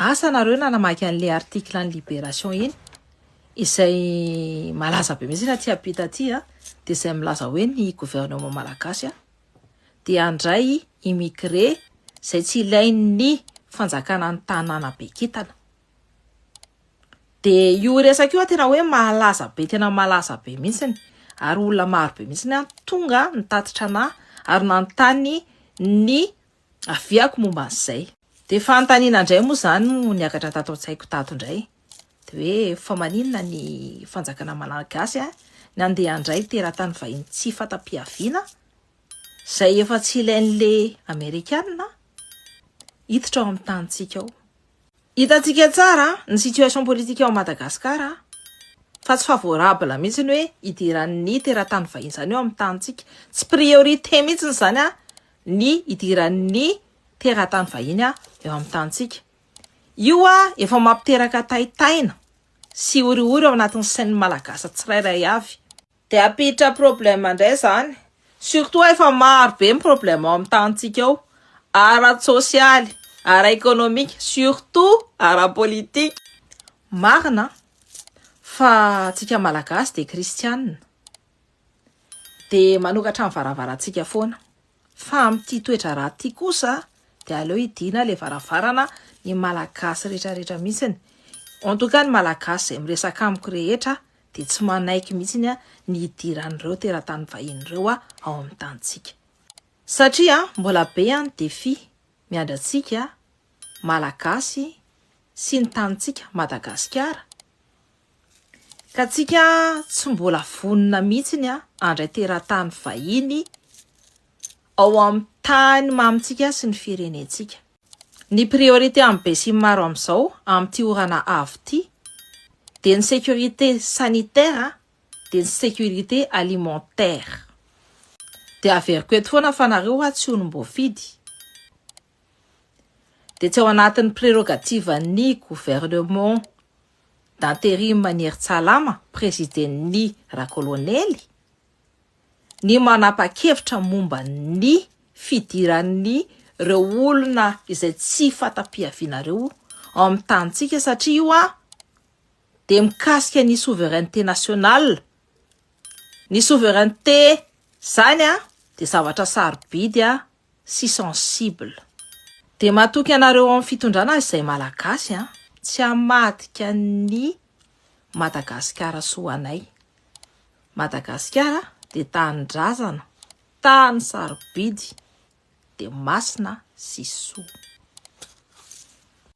Asa nareo nanamaky anle article any libération iny izay malaza be mihitsy aty ampita aty a de izay milaza hoe ny gouvernement malagasy a de handray immigré izay tsy ilain'ny fanjakana ny tanàna bekintana de io resaka io a tena hoe malaza be tena malaza be mihitsiny ary olona maro be mihitsy ny any tonga nitatitra anah ary nanontany ny Aviako momba an'izay. Dia fanontaniana indray moa izany no niakatra tato an-tsaiko tato indray, dia hoe fa maninona ny fanjakana malagasy ny andeha handray teratany vahiny tsy fanta-piaviana izay efa tsy ilain'le amerikanina hiditra ao amin'ny tanintsika ao. Hitantsika tsara ny situation politique ao Madagascar fa tsy favorable mihitsy ny hoe hidiran'ny teratany vahiny izany eo amin'ny tanintsika. Tsy priorité mihitsy izany ny hidiran'ny teratany vahiny eo amin'ny tanintsika. Io efa mampiteraka taitaina sy horihory ao anatin'ny sain'ny Malagasy tsirairay avy. Dia hampiditra problème indray izany, surtout efa maro be ny problème ao amin'ny tanintsika ao, ara-tsosialy, ara-ekonomika, surtout ara-politika. Marina fa tsika Malagasy dia kristianina, dia manokatra ny varavarantsika foana. Fa amin'ity toedraharaha ity kosa dia aleo hidiana ilay varavarana ny Malagasy rehetrarehetra mihitsiny. En tout cas ny Malagasy izay miresaka amiko rehetra dia tsy manaiky mihitsiny ny hidiran'ireo teratany vahiny ireo ao amin'ny tanintsika. Satria mbola be ny défi miandry antsika Malagasy sy ny tanintsika Madagasikara. Ka tsika tsy mbola vonona mihitsiny andray teratany vahiny ao am tany mamintsika sy ny firenentsika. Ny priorité am besimimaro amizao amity orana avo ty dia ny sécurité sanitaire dia ny sécurité alimentaire. Dia averiko eto foana fa nareo hoa tsy olom boafidy. dia tsy ao anatin'ny prérogatives-n'ny gouvernement d'intérim an'i Hery Tsalama, prezidin'ny Rakolonely, ny manapa-kevitra momba ny fidiran'ireo olona izay tsy fanta-pihaviana ireo ao amin'ny tanintsika satria io dia mikasika ny souveraineté nationale. Ny souveraineté izany dia zavatra sarobidy sy sensible. Dia matoky anareo ao amin'ny fitondrana azy izay Malagasy an! Tsy hamadika ny Madagasikara soa anay. Madagasikara dia tanindrazana, tany sarobidy, dia masina sy soa.